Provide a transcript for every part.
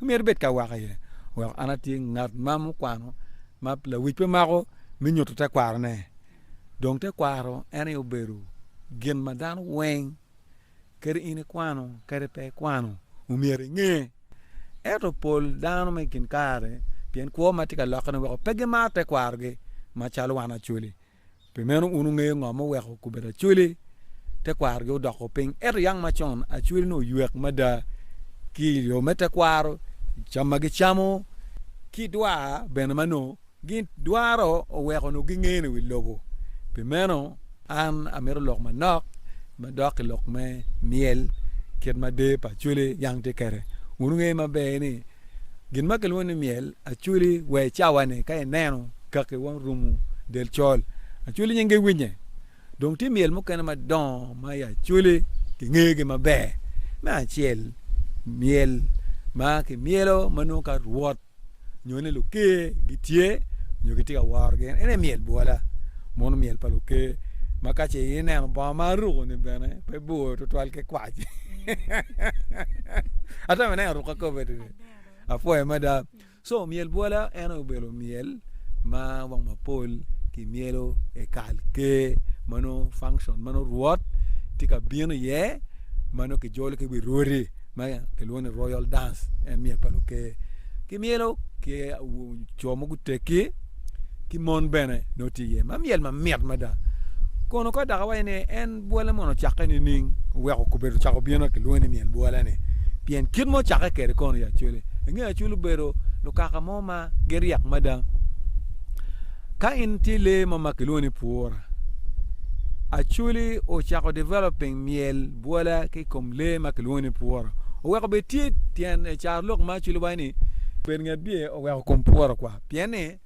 myero ibed ka wako iye. Wek an atye ngat ma mukwano ma lawic pe mako me nyuto tekwarone. Dong tekwaro en aye obedo gin ma dano weng kadi in ikwano kadi pe ikwano omyero inge. Ento pol dano ma i kin kare pien kwo ma tye ka lokke-ni weko pe gimaro tekwarogi macalo wan Acholi. Pi meno wun wungeyo ngo ma oweko obedo acwele, tekwarogi odoko piny. Ento yang macon, acwele-ni oywek mada ki i yo me tekwaro, i cam ma gicamo, ki dwa bene ma nongo gidwaro oweko nongo gingene wi lobo. Pi meno, an amito lok manok me dok i lok me myel kit ma der pa acwele yang tye kwede. Wun wungeyo maber ni, gin ma kilwongo ni myel, acwele wa i cawa-ni ka ineno, kaki wa rumu del col acoli nyinge winye dong tye myel mukene madongo ma i acoli ki ngeyo gi maber me acel myel ma ki myelo ma nongo ka rwot nyo ni luker gi tye nyo ki tye ka woro gin ene myel bwola mono myel pa luker ma ka ce i neno bongo ma aruku ni bene pe bor tutwal ki kwac atemo neno ruka kobeddi ni apwoyo mada Co myel bwola en obedo myel ma wang mapol ki myelo i kal ker ma nongo function ma nongo rwot tye ka bino iye ma nongo ki jolo ki wi rwodi ma kilwongo ni royal dance en myel pa luker ki myelo ki co ma gutegi ki mon bene nongo tye iye ma myel mamit mada kono ka dok awaco ni en bwole mono ocakke nining oweko kubedo cako bino kilwongo ni myel bwoleni pien kit mo cakke kede kono ya cwele inge acwel obedo lukaka mo ma giryek mada ka in tye lee mo ma kilwongo ni pwura acweli ocako developing myel bwola ki kom lee ma kilwongo ni pwura oweko bed tye tyen carlok ma acweli waco ni bed nget bye oweko kom pwura kwa Pien ni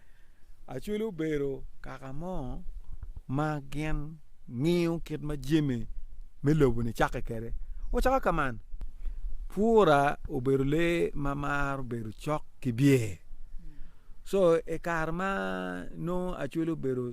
Acoli obedo kaka mo ma gin ngiyo kit ma jami me lobo-ni cakke kwede. Ocako ka man, Pura obedo lee ma maro bedo cok ki byer. Co i kare ma nongo Acoli obedo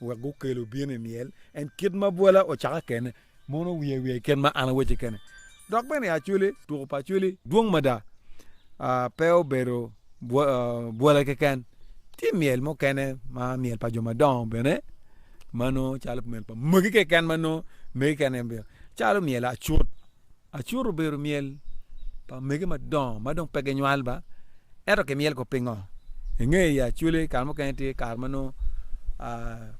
wek gukel obin i myel en kit ma bwola ocaka kene, mono wiye i wiye kit ma an awecci kene. Dok bene i Acholi, tuko pa Acholi dwong mada, pe obedo bwola keken, tye myel mukene ma myel pa jo madongo bene ma nongo calo myel pa magi keken ma nongo megi keken en bino, calo myel acut, Acut obedo myel pa omege madongo ma dong pe ginywal ba, ento kimyel kong pingo? I nge i acwele kare mukene tye kare ma nongo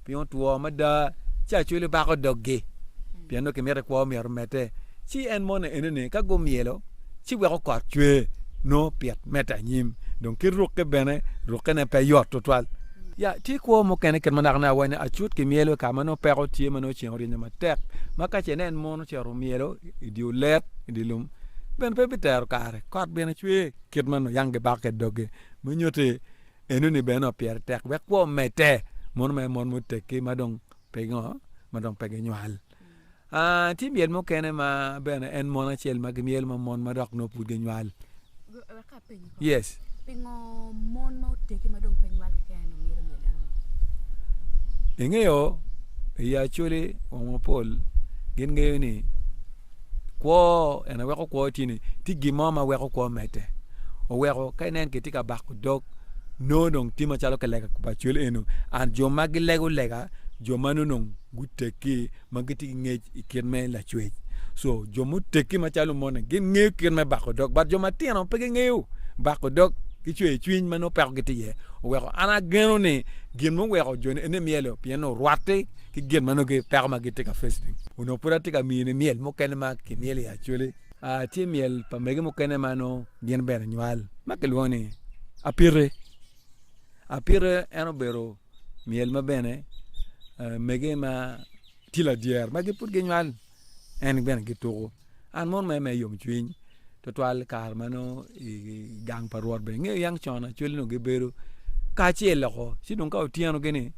piny otwo mada ci acwele bako dog-gi pien nongo kimito i kwo myero omedde. Ci en moni enene ka gumyelo ci weko kot cwe nongo pit medde anyim dong ki rukke bene rukkene pe yot tutwal. Ya tye kwo mukene kit ma nakanaka wa ni acut kimyelo i kare ma nongo peko tye ma nongo ceng oryenyo matek ma ka ce inen mono Ocito myelo i dye olet i dye lum, bene pe bitero kare. Kot bene cwer. Kit ma nuyang gibakke i doge me nyutte enoni bene nongo pire tek wek kwo omedde, mono mere mon muteggi ma dong pe gingo? Ma dong pe ginywal. Aa, tye myel mukene ma bene en mon acel ma gimyelo ma mon ma dok nongo pud ginywal. Yes. Pingo mon ma otegi ma dong pe nywal keken dong myero myel ano? Ingeyo i Acholi wong mapol gin ngeyo ni kwo en aweko kwo tye ni tye gin mo ma weko kwo mete. Oweko ka inen kitye ka bako dog no dong tye macalo kilega pa Acholi eno and jo ma gilego lega jo ma nonong guteggi ma gitye ki ngec i kit me lacwec. So, jo muteggi macalo moni gin ngeyo kit me bako dog, but jo matino pe gingeyo bako dog ki cweyo cwiny ma nongo peko gitye iye. Oweko an ageno ni gin muweko joni ene myelo pien orwatte ki gin ma nongo gi peko ma gitye ka face-ni. Onongo pud atye ka miyone myel mukene ma kimyelo i Acholi. Aa, tye myel pa mege mukene ma nongo gin bene nywal ma kilwongo ni Apite. Apite en obedo. myel ma bene mege ma tye ladyere ma pud ginywal en bene gituko an mon aye ma i yomcwiny twatwal kare ma nongo i gang pa rwot bene ingeyo yang con acwali onongo gibedo kacel loko ci dong ka otyeno gini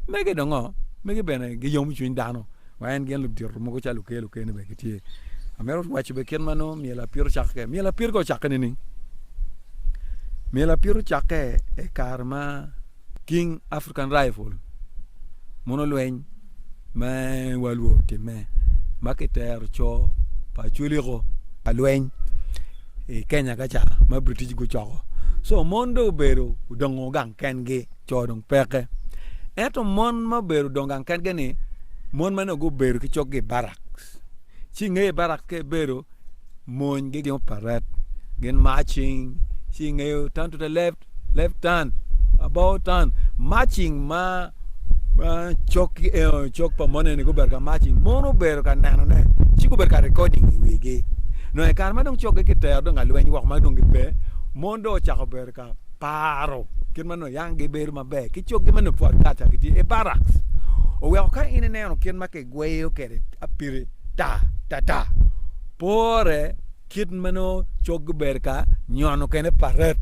mege dongo mege bene giyomo cwiny dano wa en gin ludito mogo calo okel okel ni bene gitye amito waco bene kit ma nongo myel apito cako kwede myel apito ka ocake nining myel apito cake i kare ma King African Rifle mono lweny me World War otimme ma kitero co pa Acholi-gu ka lweny i Kenya ka ca ma British gucoko. Co mon dong obedo odongo gang kengi, co dong peke. Ento mon ma obedo odongo gang kengi-ni, mon meno gubedo ki coggi i barak. Ci i nge barak ka ibedo, mony gigingo paret, gin marching, ci i nge turn to the left. left turn, about turn, marching ma ma cok eo cok pa mone ni gubedo ka marching mon obedo ka nenone ci gubedo ka recording i wigi nongo i kare ma dong cok gitero dong alweny woko ma dong gipe mon dong ocako bedo ka paro kit ma nongo yang gibedo maber ki coggi ma nongo pud atata cok gitye i barracks oweko ka in ineno kit ma kigweyo kwede apiri ta ta ta pore Kit meno coggi ber ka nyono kene paret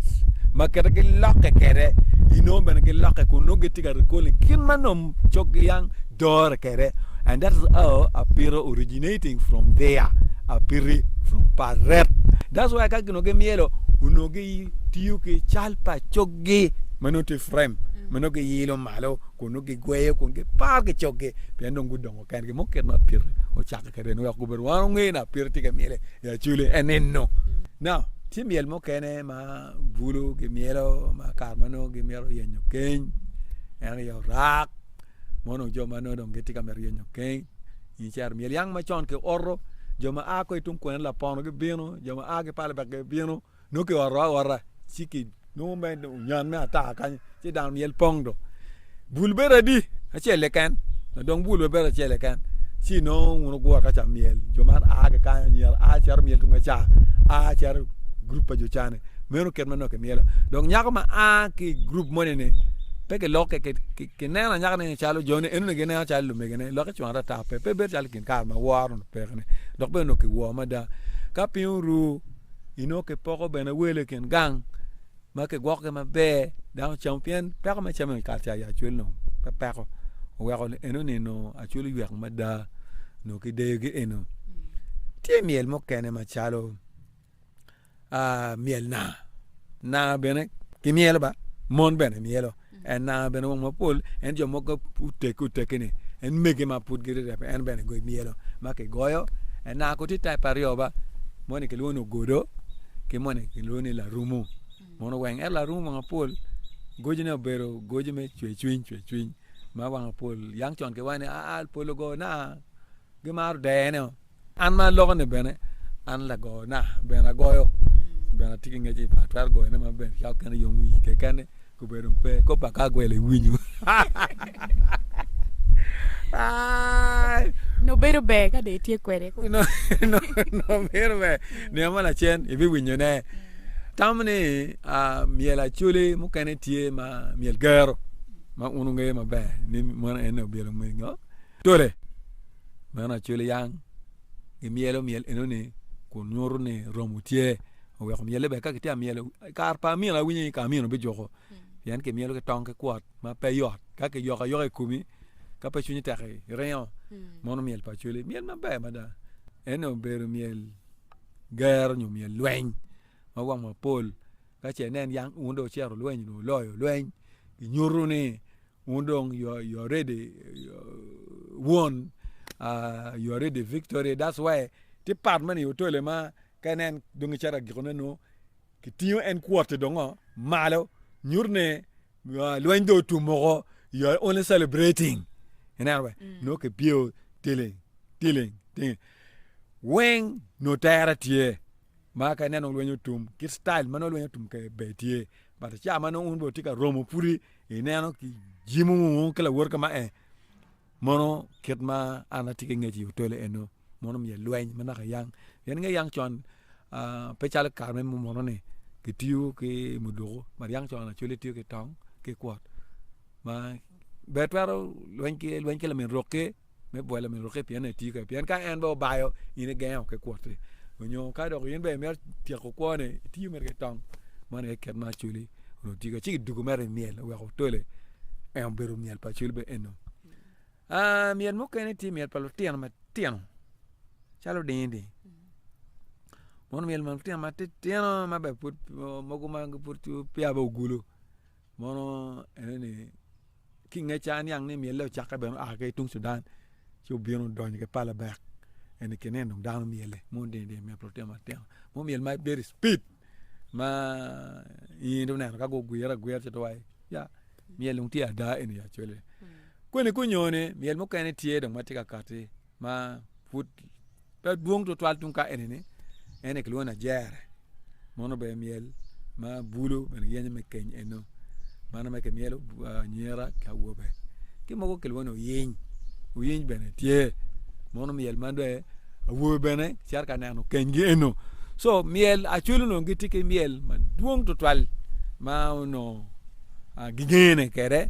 ma kite gilokke kede inongo bene gilokke kun nongo gitye ka recalling kit ma nom coggi yang dore kede and that is how apito originating from there apiti from paret that's why ka ginongo gimyelo onongo gitiyo ki cal pa coggi ma nongo tye frame ma nongo giyilo malo kun nongo gigweyo kun giparo ki coggi pien dong gudongo Pien gin mo kit ma pire ocakke kede-ni wek gubed wan onge na pire tye ka myele i acwele enino. Now, tye myel mukene ma bulu gimyelo ma kare ma nongo gimito yenyo keny, en aye orak ma onongo jo ma nongo dong gitye ka mito yenyo keny. In icero myel yang macon kioto, jo ma a ko i tung kwena lapono gibino, jo ma a ki palebek gibino. Nongo ki oro aora ci ki nongo me onyan me ataka kany ci dano myel pong do. Bul bedo adi acel keken ma dong bul bedo acel keken ci nongo wun wugure ka ca myel jo man a ki kany anyira a cito myel tung acar a cito gurup pa jo ca ni meno kit ma nongo ki myelo dong nyako ma a ki i gurup moni ni pe ki lokke ki neno nyaka ni calo jo ni eno ni gi neno calo lumege ne lokke cwaka ata pe pe bedo calo i kin kare ma woro ni peke ni dok bene nongo ki wor mada ka piny oru inongo kipoko bene wele i kin gang ma kigwokogi maber dano ocamo pien peko me cam i kare cayi acwel dong pe peko oweko ni enoni dong acwel oywek mada nongo kideyogi eno. Tye myel mukene macalo myel naa, naa bene kimyelo ba mon bene myelo. En nanga bene wang mapol, en jo mogo oteke oteke ni en mege ma pud giride pe en bene goyo myelo ma kigoyo. En nanga ko ti type aryo ba, moni kilwongo ni ogodo ki moni kilwongo ni larumu. Mono weng ento larumu wang mapol gojine obedo goji me cwe cwiny cwe cwiny ma wang mapol yang con ki waci ni aa pol ogo nanga gimaro dene o. An ma alokone bene, an lagona bene agoyo. Bene atye ki ngec i pa atwero goyone ma bene ka okene yom wi kekene kubedo dong pe kop pa ka gwel iwinyo. Nubedo ber ka dong itye kwede. Nubedo ber nino mo lacen ibiwinyone. Tam ni myel acoli mukene tye ma myel gero ma un wungeyo maber ni meno en obyelo ngo tole. Meno acwele yang gimyelo myel enoni kun nyuto ni romo tye oweko myelle ber ka kitye ka myelo i kare pa amino awinyo ni kare pa amino bijuko pien kimyelo ki tong ki kwot ma pe yot ka kiyoko ayoka i komi ka pe cwinyi tek iringo mono myel pa acwele myel maber mada ento obedo myel gero nyo myel lweny ma wang mapol ka ce inen yang wun dong wucito lweny onongo wuloyo lweny kinyuto ni Wun dong you are you are ready won uh you are ready victory that's why tye part moni i otole ma ka inen dong icato agiko ne nongo kitingo en kwotte dong o malo nyuto ne uh, lweny dong otum moko you are only celebrating ineno be nongo kipyeo tiling tiling tiling weng nongo tere tye ma ka inen dong lweny otum kit style ma nongo lweny otum kwede ber tye but ca ma nongo wun bene wutye ka romo pwodi Ineno ki jimu ki lawot ka ma e, mono kit ma an atye ki ngec i otole eno, mono omiya lweny ma naka yang. Pien inge yang con pe calo kare me munu ni kitiyo ki muduku, bad yang con lacwele tiyo ki tong ki kwot ma ber twero lweny ki lamin rok ki. me bwolo myero orukke pien en etye kene pien ka en bene obayo in igenge woko ki kwot-ti nyo ka dok in bene imito tyeko kwone itiyo mere ki tong meno aye kit ma acwali onongo tiyo kwede ci kiduku mere i myel wek otole en obedo myel pa acwal bene eno myel mukene tye myel pa lutino matino calo odingo ni mono myel pa lutino matitino ma bene pud mogo ma pud peya bene ogulu mono enoni ki nge ca aniang ni myelle ocakke bene oa ki tung Cudan ci obino odonyo ki pala bek eni kinin dong dano myelle mono dini dini myel pi lutino matino mono myel ma very speed ma in itye ka neno ka gugwire agwira ci itye ka waci ya myel dong tye ada eni ya cwale kweni kunyo ni myel mukene tye dong ma tye ka kati ma pud pe dwong twatwal tung ka eni ni ene kilwongo ni ajere mono bene myel ma bulo bene yenyo me keny eno mano ma kimyelo anyira ki awobe ki mogo kilwongo ni oyiny oyiny bene tye mono myel ma dong awobe bene gicito ka neno kenygi eno co myel acwele onongo gitye ki myel madwong twatwal ma onongo gingene kwede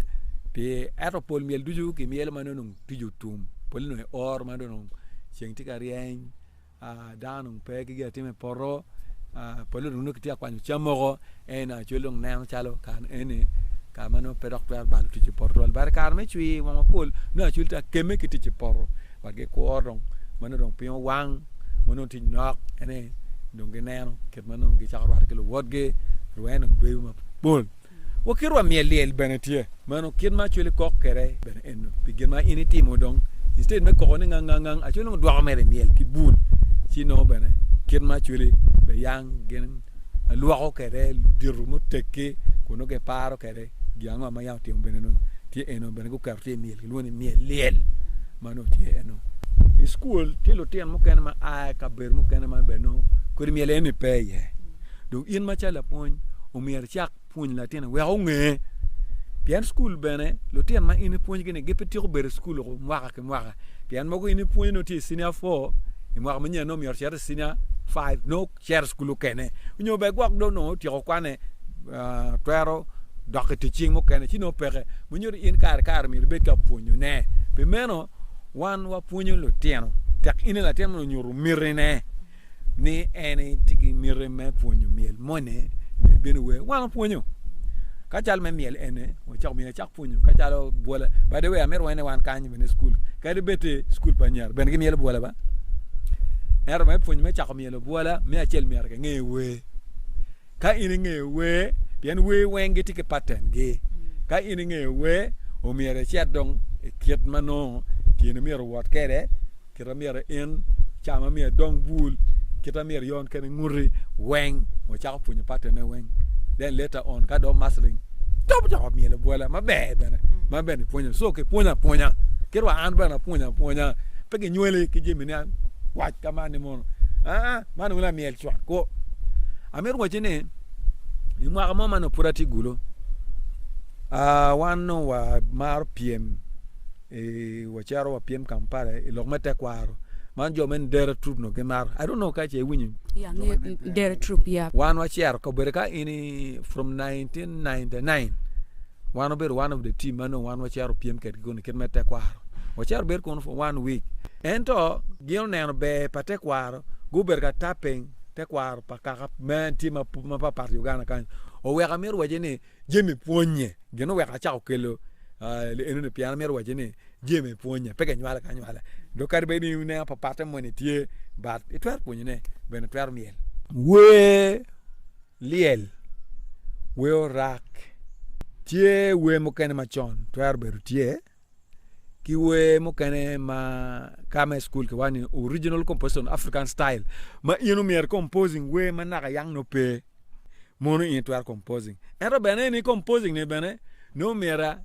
pi ento pol myel ducu kimyelo ma nongo Tic otum, pole dong i or ma dong ceng tye ka ryeny, dano dong pe ki gin atim i poto, pole dong nongo kitye ka kwanyo cam moko. Ento Acwel dong neno calo kare eni kare ma nongo pe dok twero balo tic i poto twal. Bade kare me cwir wang mapol nongo Acwel tye ka kemme ki tic i poto wek gikwo dong ma nongo dong piny owang ma nongo tic nok ene dong gineno kit ma nongo gicako rwatte ki luwotgi. Rwene dong bedo mapol. wa ki rwa myel lyel bene tye meno kit ma Acholi kok kede bene eno pi gin ma in itimo dong instead me koko ni ngang ngang ngang Acholi nongo dwoko mere myel ki bul ci nongo bene kit ma Acholi be yang gin alwoko kede ludito muteggi kun nongo gin paro kede gin ango ma yang otimo bene nongo tye eno bene guketo tye myel kilwongo ni myel lyel ma nongo tye eno i school tye lutino mukene ma a i kabedo mukene ma bene nongo kodi myel eni pe iye Dong in macalo lapwony, omyero icak pwony latinni wek onge. Pien cukul bene, lutino ma in ipwonygi-ni gipe tyeko bedo i cukul loko mwaka ki mwaka. Pien mogo in ipwonyo nongo tye i cinia four, i mwaka manyen nongo myero icit i cinia five, nongo cito cukul mukene. Nyo bene gwok dong nongo otyeko kwane, twero dok i tic cing mukene, ci nongo peke. Ma nyuto ni in kare ki kare myero ibed ka pwonyone. Pi meno, wan wapwonyo lutino tek in i latin ma onongo onyuto mitine. ni en tye ki miti me pwonyo myel moni myel bino wer wan opwonyo ka cal me myel ene wacako myel acak pwonyo ka calo bwola by the way amito wene wan kany bene cukul kadi bed te cukul pa anyira bene ki myelo bwola ba ento me pwonyo me cako myelo bwola me acel myero ki nge wer Ka in ingeyo wer, pien wer weng gitye ki patengi. Ka in ingeyo wer, omyero icit dong i kit ma nongo tyeni myero owot kwede, kit ma myero in, ca ma myero idong bul, kit ma myero ion kwede nguti weng. Wacako pwonyo patenne weng. Then later on ka dong mastering, dong ocako myelo bwola maber bene, ma bene ipwonyo. So kipwonyo apwonya, kit wa an bene apwonyo apwonya. Pe kinywoli ki jami ni kwac ka man ni mono. Aa, man onongo lamyel. cwak kwo. Amito wacci ni i mwaka mo man pud atye gulo uh, wan nongo wamaro pyem e, wacero wapyem Kampala i lok me tekwaro man jo me dere trup no gimaro I don't know ka ce iwinyo ya nge dere trup ya wan wacero kabedo ka in from 1999 wan obedo one of the team ma nongo wan wacero pyem kedgi kuni kit me tekwaro wacero bedo kunu for one week ento gin oneno ber pa tekwaro gubedo ka tapping tekwaro pa kaka me tye mapatpat i Uganda kany oweko amito wacci ni Jemi pwonye gin oweko acako kelo enoni pien amito wacci ni Jemi pwonye pe kinywale ki anywala dong kadi bed ni in ineno papatte moni tye but itwero pwonyone bene itwero myel wer lyel wer orak tye wer mukene macon twero bedo tye. ki wer mukene ma ka ma i cukul ki wani original composition african style ma in omyero composing wer ma naka yang no pe mono in twero composing ento bene ni composing ni bene ni omyera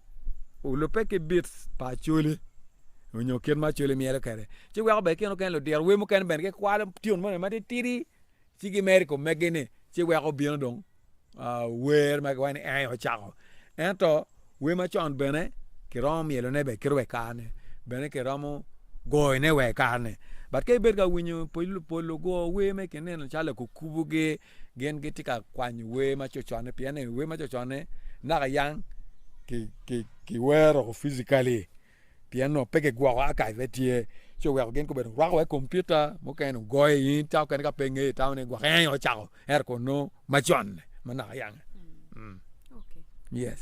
olubbe ki bit pa acholi onyo kit ma acholi myero kwede ci weko bene kine lutino wer mukene bene gikwalo tune moni matitidi Ci gimer i kom meggi-ni, ci weko obino dong wer ma kiwaco ni ee ocako. Ento wer macon bene kiromo myelone be kiro wa i kare-ni, bene kiromo goyone wa i kare-ni. Bat ka ibedo ka winyo pol lugo wer me kinino calo lakukubogi, gin gitye ka kwanyo wer ma cocone pien ni wer ma cocone naka yang kiwero woko physically. pien onongo pe kigwoko akayi pe tye, ci oweko gin gubedo rwako wai kompiuta mukene ogoyo i in ta okene ka pe ingeyo itamo ni gwok eng ocako ento kono macon-ni ma naka yange. Yes.